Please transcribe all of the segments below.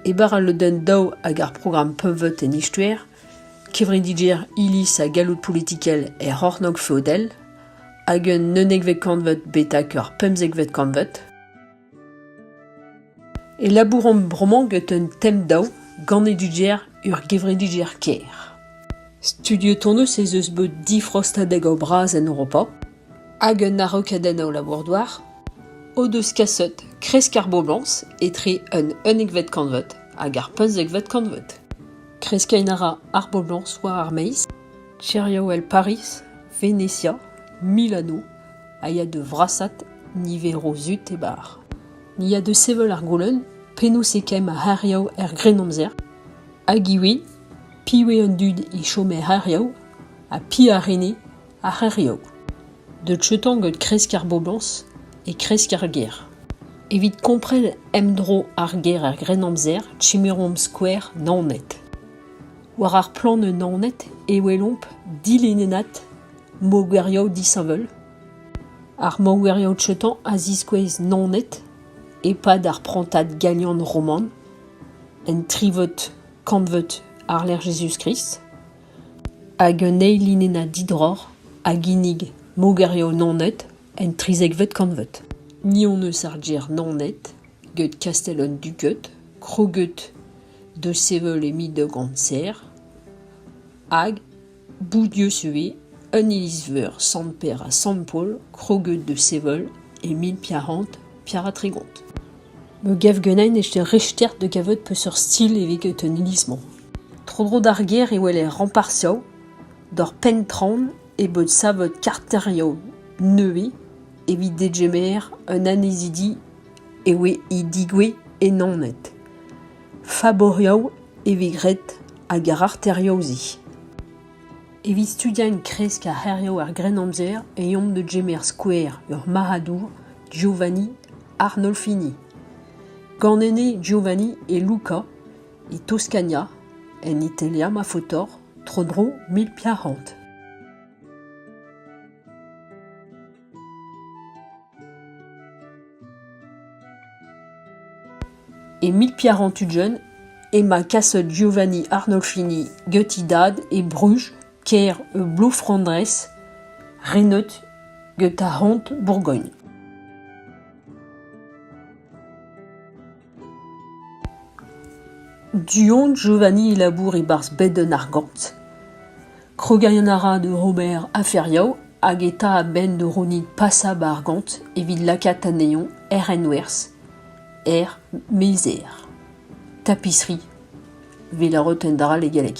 E-bar al lodenn daou ag ar programm Pemveut en Istoer, kevredigezh Iliz ha galloud politikel er C'hornôg feodel, hag un unekvet kantved betek ur pemzekvet kantved, e labouromp bremañ get un tem daou gant eduger ur gevredigezh kêr. Studiet hon eus ez eus bet difrostadeg o bras en Europa. Hag un araokadenn a labour-douar o deus kaset kresk ar boblañs etre un unekvet kantved hag ar pemzekvet kantved. Kreskiñ a ra ar boblañs war ar maez, Tiriaouell Pariz, Venetia, Milano a ya da vrasaat niveroù zut e barr. Ni a deu sevel ar goulenn penaos e kemm ar c'hêrioù er Grennamzer hag ivez piv eo an dud e chom er c'hêrioù ha piv a rene Ar c'hêrioù deuet outañ gant kresk ar boblañs e kresk ar gêr. Evit kompren emdro ar gêr er Grennamzer chemeromp skouer Naoned. War ar plann eus Naoned e welomp dilennennad mogerioù disheñvel. Ar mogerioù outañ a ziskouez Naoned e-pad ar prantad galian roman, en trivod kantved Arler Jezuz-Krist. Hag un eil linennad didroc'h a ginnig mogerioù Naoned en trizekvet kantved. Ni hon eus ar gêr Naoned get kastell an Duged kroget da sevel e mil daou gant ser hag Boudius ivez un iliz-veur Sant-Pêr ha Sant-Paol kroget da sevel e mil p'yac'hant P'yara tregont. Me gav ganin e richter da gavout peseurt stil evit an iliz-mañ. Tro-dro d'ar gêr e weler Rampartioù d'ur penn-traoñ e bot savet karterioù nevez evit degemer an annezidi e oe e digouezh e Naoned. Faborioù e vez graet ag ar c'harterioù-se. Evit studiañ e kresk ar c'hêrioù er Grennamzer e omp da gemer skouer ur marc'hadour, Giovanni Arnolfini. Ganet eo Giovanni e Lucca, e Toscania, en Italia ma faotr, tro-dro mil piv c'hant. Emil Piaron Tudjen emañ kaset Giovanni Arnolfini gutidad e Bruges kêr e Bro-Flandrez, renet get ar c'hont Bourgogn. Du-hont Giovanni e labour e-barzh Bedenn ar Gant. Krogerian a ra da Robert Afferiou hag e ta a-benn da rounit pasa 'ba ar gant evit lakaat anezhañ er renwerzh, er meizer, tapisserie, 'vit laroten dall e galleg.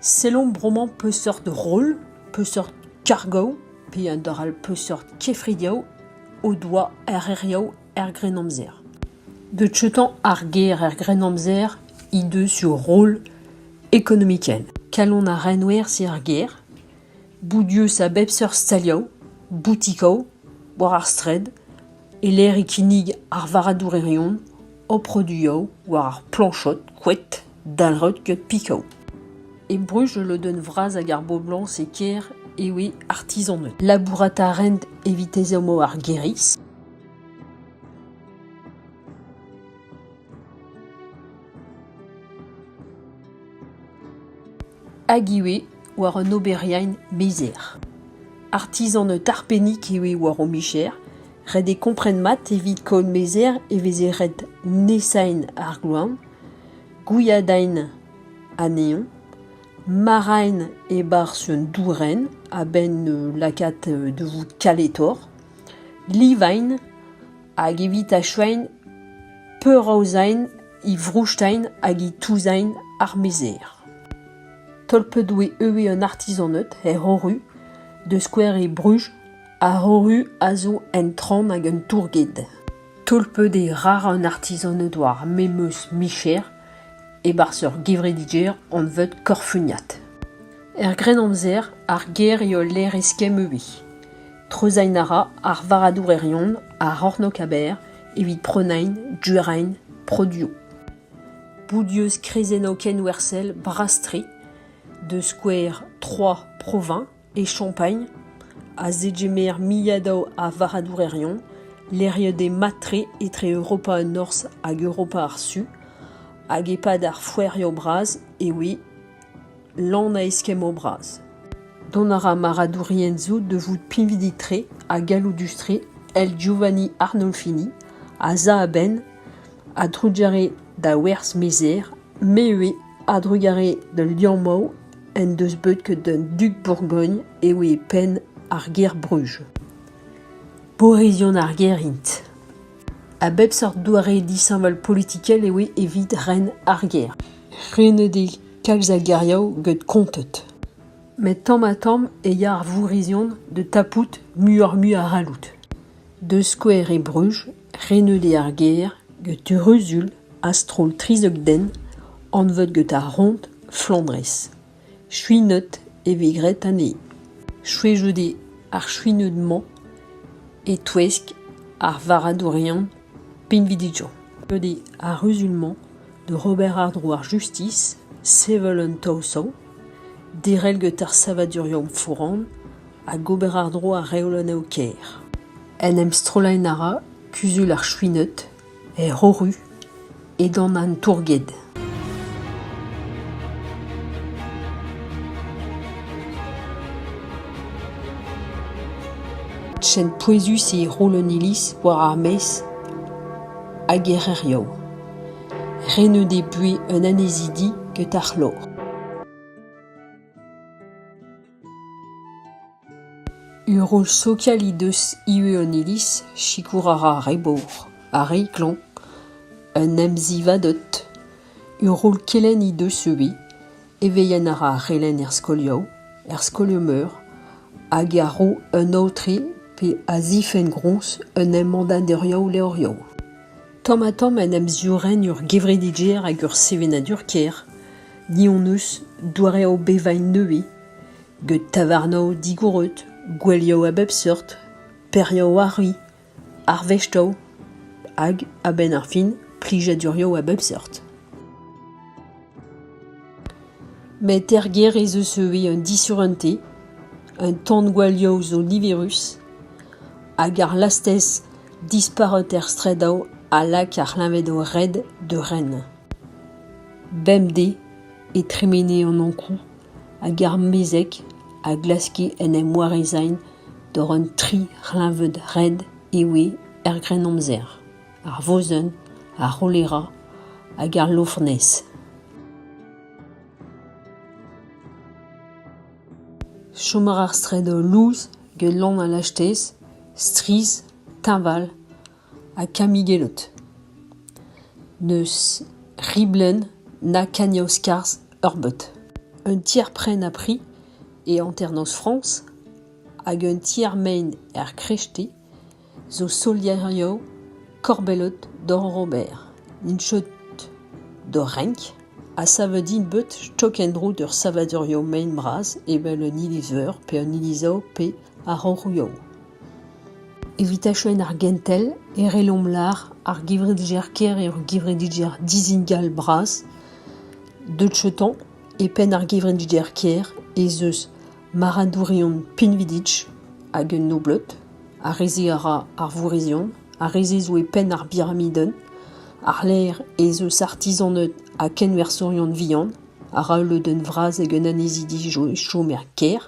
Sellomp bremañ peseurt roll, peseurt kargoù, peadra peseurt kefridioù o doa erreriañ er Grennamzer. Decheutañ ar ger er Grennamzer he deus ur roll ekonomikel. Kalon ar renwer eo ar ger. Bout eus a bep seurt stalioù, boutikoù, war ar straed, e-lec'h e kinnig ar varadourerion o produioù war ar plañchod, koed. Dalc'hot get Picao. E Bruges, ul lodenn vras ag ar boblañs e kêr eo eo artizaned. Labourat a raent evit ezhommoù ar gêriz. Hag ivez war un oberiain mezer. Artizan tarpennik eo war o micher. Ret eo kompren mat evit kaout mezer e veze ret nesaén ar gloan. Gwiadain anezhañ, ma raent e-barzh un dourenn a-benn lakaat da vout kaletoc'h, livaint hag evit achuañ peuraozañ he vroustain hag he touzañ ar mezer. Tolpet oe eue an artizaned er c'horru da skouer e Bruges. Ar c'horru a zo un traoñ hag un tourged. Tolpet eo ra an artizan o doa ar memes micher e-barzh ur gevredigezh anvet Korfuniad. Er Grennamzer, ar gêr eo lec'h eskemm ivez. Treuzhain a ra ar varradourion a c'hornog-aber evit prenañ durañ produioù. Boudius krezennoù kenwerzhel bras-tre, da skouer Troyes proviñs, e Champagnes, a zegemer milliadaù a varradourerion lec'hiet eo mat-tre etre Europa Norzh hag Europa ar Su, hag e-pad ar foerioù bras e oe lan a eskemmoù bras. Dont a ra marradourien zo da vout pinvidik-tre ha galloudus-tre èl Giovanni Arnolfini az a a-benn a-drugarez da werzh-mezer, me ivez a-drugarez d'ul liammoù en deus bet ket an dug Bourgogn eo e penn ar gêr Bruges. Borezion ar gêr int. A bep seurt doare disheñvel politikel eo evit ren ar gêr. Renet eo kalz a geriaou get konted. Met tamm-ha-tamm e ya ar vourrezion da tapout muioc'h-mui a c'halloud. Da skouer e Bruges Reneulli ar gêr get ruzul a-stroll trizek den anvet get ar roñd Flandrez. Chuinet e vez graet anezhe. Chwezhout eo ar chuinet-mañ e-touesk ar varadourion pinvidigezh. Ret eo ar ruzul-mañ da ober àr-dro ar justis, sevel un taol-sav, derel get ar savadurioù foran hag ober àr-dro ar reolennoù kêr. En em strollaén a ra kuzul ar Chwined, er C'horru, edan an tourged. Ken pouezus eo roll an iliz war ar maez hag er c'hêrioù. Re n'o deus buhez un annezidi get ar c'hlor. Urol Sokialidus ivez an iliz, sikour a ra ar re bor, ar re klañv, un emzivadeut. Urol Kelenn he deus ivez. Evezhiañ a ra ar c'helenn er skolioù, er skolioù-meur, hag a ro un aotre pe a zifenn groñs un embannadurioù levrioù. Tamm-ha-tamm en em ziourenn ur gevredigezh hag ur sevenadur kêr. Ni hon eus doareoù bevañ nevez, get tavarnoù digoret, gouelioù a bep seurt, perioù arri, arvestoù hag, a-benn ar fin, plijadurioù a bep seurt. Met er gêr ez eus ivez un disurenté, un tan gwalioù zo niverus, hag ar lastez disparut er straedoù a lak ar c'hleñvedoù red da ren. Bemdez e tremene an Ankou hag ar mezeg a glaske en em warezañ door an tri c'hleñved red e oe er Grennamzer, ar vosenn, ar cholera hag al lofonez. Chom a ra ar straed lous get lann al lastez, strizh, teñval ha kamigellout. N'eus riblenn na kagnaoz-skarzh ur bot. Un tier-prenn ha pri e hanternoz Frañs hag un tier-mein er Crêté zo soliario korbellot doc'h ober. Int chod d'o renk ha savet int bet stok en-dro d'ur savadurioù mein bras evel un iliz-veur pe un iliz-ao pe a-raok ouiañ. Evit achuenn ar gentel e rellomp lar ar gevredigezh-kêr er gevredigezh Dizingal Bras. Deut cheutañ, e penn ar gevredigezh-kêr ez eus maradourion pinvidik hag un nobleud. Ar re-se a ra ar vourrezion, ar re-se zo e penn ar biramidenn. Àr-lerc'h ez eus artizaned ha kenwerzhourion vihan a ra ul lodenn vras ag un annezidi chom er kêr.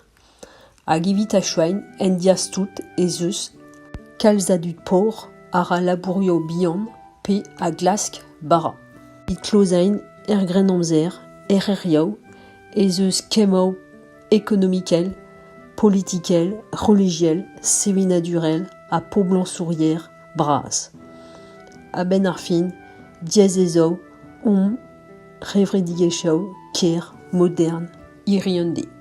Hag evit achuiñ, en diaz-tout ez eus kalz a dud pobl a ra labourioù bihan pe a glask bara. Evit klozaén er Grennamzer, er c'hêrioù, ez eus kemmoù ekonomikel, politikel, relijiel, sevenadurel ha poblañsouriezh bras. A-benn ar fin, diaes ez eo hom revredigezhioù ker modern. hiriv an deiz.